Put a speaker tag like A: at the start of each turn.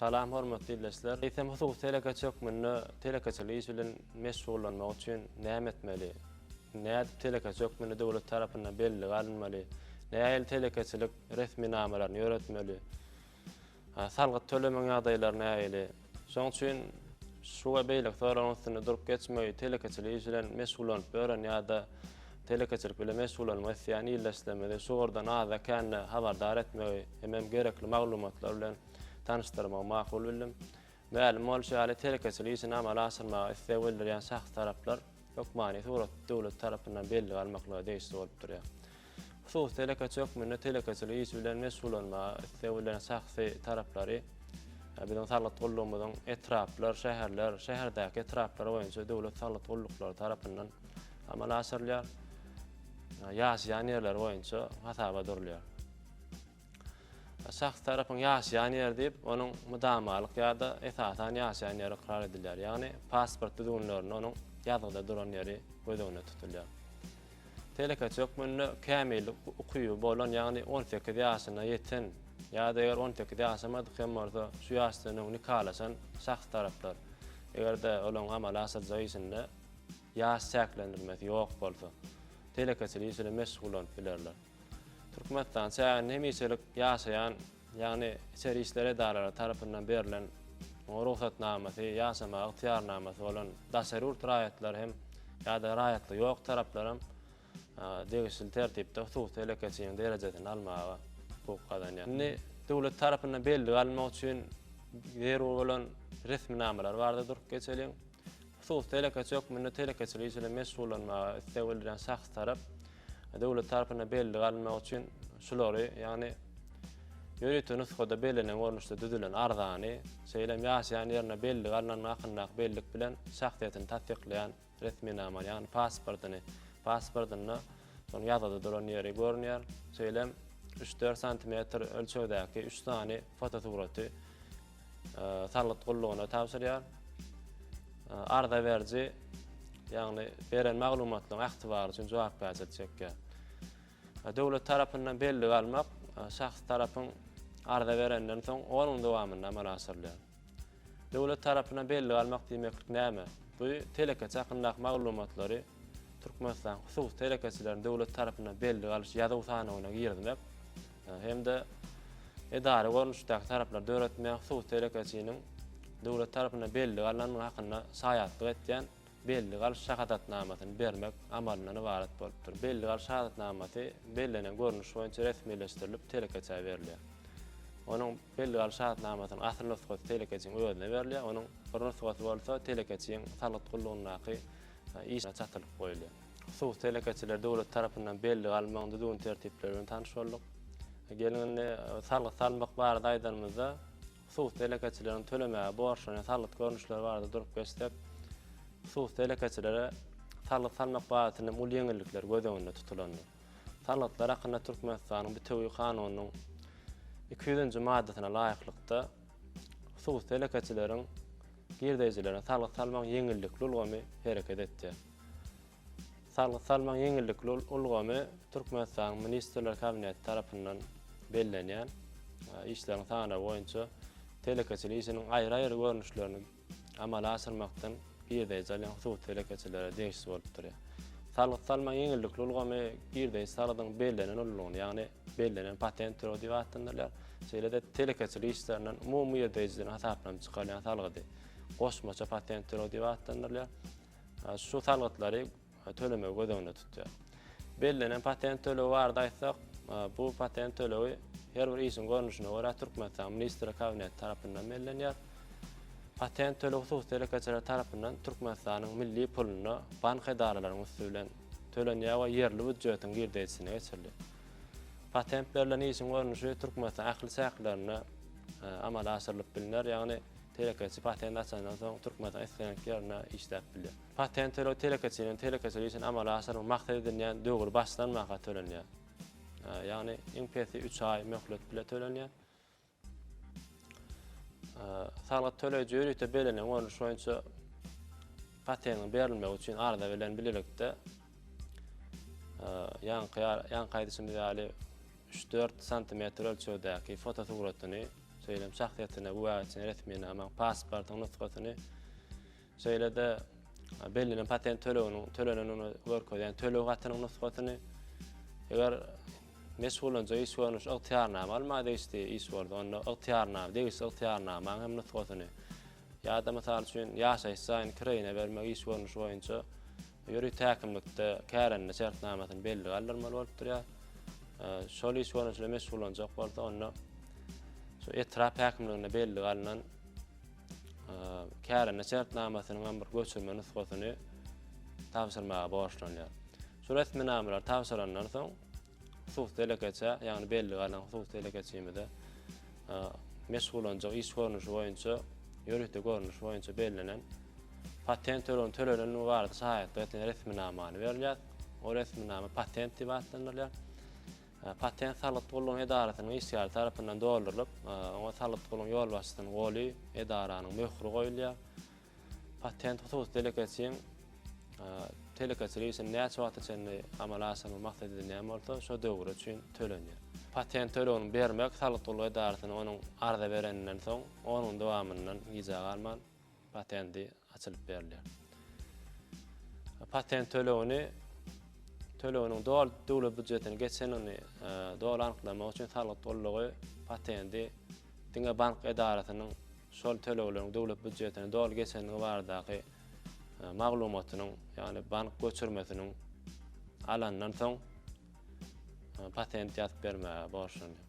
A: Salam hormatly ildeşler! Eýsem hususy telekeçi hökmünde telekeçilik işi bilen meşgullanmak üçin näme etmeli? Nädip telekeçi hökmünde döwlet tarapyndan bellige alynmaly? Nähili telekeçilik resminamalaryny ýöretmeli? Salgyt tölemegiň ýagdaýlary nähili? Şonuň üçin şu we beýleki soraglaryň üstünde durup geçmegi telekeçilik işi bilen meşgullanyp ýören ýa-da telekeçilik bilen meşgullanmak isleýän ildeşlerimizi şu ugurdan azda-kände habardar etmegi hemem gerekli maglumatlar bilen tanyşdyrmagy makul bildim. Mälim bolşy ýaly, telekeçilik işini amala aşyrmaga isleg bildirýän şahsy taraplar hökmany surat döwlet tarapyndan bellige almaklyga degişli bolup durýar. Hususy telekeçi hökmünde telekeçilik işi bilen meşgullanmaga isleg bildiren şahsy taraplary biziň saglyk gullugymyzyň etraplar, şäherler, şäherdäki etraplar boýunça döwlet saglyk gulluklary tarapyndan amala aşyrylýar. Ýaşaýan ýerleri boýunça hasaba durulýar. Şahs tarapyň ýaşaýan ýeri diýip, onuň mydamalyk ýa-da esasan ýaşaýan ýeri ykrar edilýär, ýagny pasport düzgünlerinde onuň ýazgyda duran ýeri göz öňünde tutulýar. Telekeçi hökmünde kämillik ukyby bolan, ýagny on sekiz ýaşyna ýeten ýa-da eger on sekiz ýaşamadyk hem bolsa, şu ýaşdan öň nikalaşan şahs taraplar, eger-de olaryň amala aşyrjak işinde ýaş çäklendirmesi ýok bolsa, telekeçilik işi bilen meşgullanyp bilerler. Türkmenistan çäginde hemişelik ýaşaýan, ýagny içeri işler edaralary tarapyndan berlen rugsatnamasy, ýaşamaga ygtyýarnamasy bolan daşary ýurt raýatlary hem ýa-da raýatlygy ýok taraplar hem degişli tertipde hususy telekeçiniň derejesini almaga hukuk gazanýar. Indi döwlet tarapyndan bellige almak üçin zerur bolan resminamalar barada durup geçeliň. Hususy telekeçi hökmünde telekeçilik işi bilen meşgullanmaga isleg bildirýän şahs tarap döwlet tarapyndan bellige alynmagy üçin şulary, ýagny ýörite nusgada bellenen görnüşde düzülen arzany, şeýle hem ýaşaýan ýerine bellige alnanlygy hakyndaky bellik bilen şahsyýetini tassyklaýan resminamany, ýagny pasportyny, pasportynda şonuň ýazgyda duran ýeri görünýär, şeýle hem üç-dört santimetr ölçegdäki üç sany fotosuraty, salgyt gullugyna tabşyrýar. Arza beriji, ýagny beren maglumatlaryň ähtibar üçin jogapkärçilik çekýär. Döwlet tarapyndan bellige almak şahs tarapyň arza berenden soň 10 gün dowamynda amala aşyrylýar. Döwlet tarapyndan bellige almak diýmeklik näme? Bu telekeçi hakyndaky maglumatlary Türkmenistan hususy telekeçileriň döwlet tarapyndan bellige alyş ýazuw sanawyna girizmek hem-de edara görnüşdäki taraplary döretmek, suw telekeçiniň döwlet tarapyndan bellige alnandygy hakynda şaýatlyk etýän bellige alyş şahadatnamasyny bermek amalyndan ybarat bolupdyr. Bellige alyş şahadatnamasy bellenen görnüş boýunça resmileşdirilip, telekeçä berilýär. Onuň bellige alyş şahadatnamasynyň asyl nusgasy telekeçiniň özüne berilýär, onuň bir nusgasy bolsa telekeçiniň salgyt gullugyndaky işgäre çatylyp goýulýar. Suw telekeçileri döwlet tarapyndan bellige almagyň düzgün tertipleri bilen tanyş bolduk. Geliň indi salgyt salmak barada aýdanymyzda suw telekeçileriniň tölemäge borçlanýan salgyt görnüşleri barada durup geçsek, suw telekeçilere salgyt salmak babatynda uly ýeňillikler göz öňünde tutulandyr. Salgytlar hakynda Türkmenistanyň bitewi kanunynyň 200-nji maddasyna laýyklykda suw telekeçileriň girdeýjilerine salgyt salmagyň ýeňillikli ulgamy hereket etýär. Salgyt salmagyň ýeňillikli ulgamy Türkmenistanyň Ministrler Kabineti tarapyndan bellenýän işleriň sanawy boýunça telekeçilik işiniň aýry-aýry görnüşlerini amala aşyrmakdan girdeji alýan hususy telekeçilere degişli bolup durýar. Salgyt salmagyň ýeňillikli ulgamy girdeji salgydyň bellenen ullugyny, ýagny bellenen patent töleg diýip atlandyrylýar, şeýle-de telekeçilik işlerinden umumy girdejilerden hasaplanyp çykarylýan salgydy goşmaça patent töleg diýip atlandyrylýar. şu salgytlary tölemegi göz öňünde tutýar. Bellenen patent tölegi barada aýtsak, bu patent tölegi her bir işiň görnüşine görä Türkmenistanyň Ministrler Kabineti tarapyndan bellenýär. Patent tölegi hususy telekeçiler tarapyndan Türkmenistanyň milli puluna bank edaralarynyň üsti bilen tölenýär we ýerli býujetiň girdeýjisine geçirilýär. Patent berlen işiň görnüşi Türkmenistan ähli çäklerinde amala aşyrylyp bilner, ýagny Telekeçi patenti açandan soň Türkmenistanyň islendik ýerinde işläp bilýär. Patent töleg telekeçiniň telekeçilik işini amala aşyrmak maksat edinýän döwri başlan mahaly tölenýär. Ýagny iň pesi üç aý möhlet bilen tölenýär. Salgyt töleýji ýörite bellenen görnüş boýunça patentiň berilmegi üçin arza bilen bilelikde ýaňky aýdyşymyz ýaly üç-dört santimetr ölçegdäki fotosuratyny Şeýle-m şahsyýetine güwäçini, resminamaň, pasportyň nusgasyny, şeýle-de bellenen patent töleginiň tölenenini görkezýän töleg hatynyň nusgasyny, eger meşgullanjak iş görnüşi ygtyýarnama almaga degişli iş bolsa, onda ygtyýarnama, degişli ygtyýarnamaň hem nusgasyny, ýa-da, mysal üçin, ýaşaýyş jaýyny kiraýyna bermek iş görnüşi boýunça Ýörite häkimlikde kärende şertnamasyny bellige aldyrmaly bolup durýar. Şol iş boýunça meşgullanjak bolsa, onda şu etrap häkimliginde bellige alnan kärende şertnamasynyň hem bir göçürme nusgasyny tabşyrmaga borçlanýar. Şu resminamalar tabşyrandan soň Hususy telekeçä, ýagny bellige alan hususy telekeçimize meşgullanjak iş görnüşi boýunça ýörite görnüş boýunça bellenen patent töleginiň tölenendigi barada şaýatlyk etýän resminamany berilýär. O resminama patent diýip atlandyrylýar. Patent salgyt gullugynyň edarasynyň işgäri tarapyndan doldurylyp, oňa salgyt gullugynyň ýolbaşçysynyň goly, edaranyň möhri goýulýar. Patent hususy telekeçiň telekeçilik işini näçe wagta çenli amala aşyrmak maksat edilýän bolsa, şo döwür üçin tölenýär. Patent tölegini bermek salgyt gullugy edarasyna onuň arza bereninden soň on gün dowamyndan gijä galman patenti açylyp berilýär. Patent tölegini töleginiň doly döwlet býujetine geçenini doly anyklamak üçin salgyt gullugy patenti diňe bank edarasynyň şol tölegleriň döwlet býujetine doly geçendigi baradaky maglumatynyň, ýagny bank göçürmesiniň alandan soň patent ýazyp bermäge borçlanýar.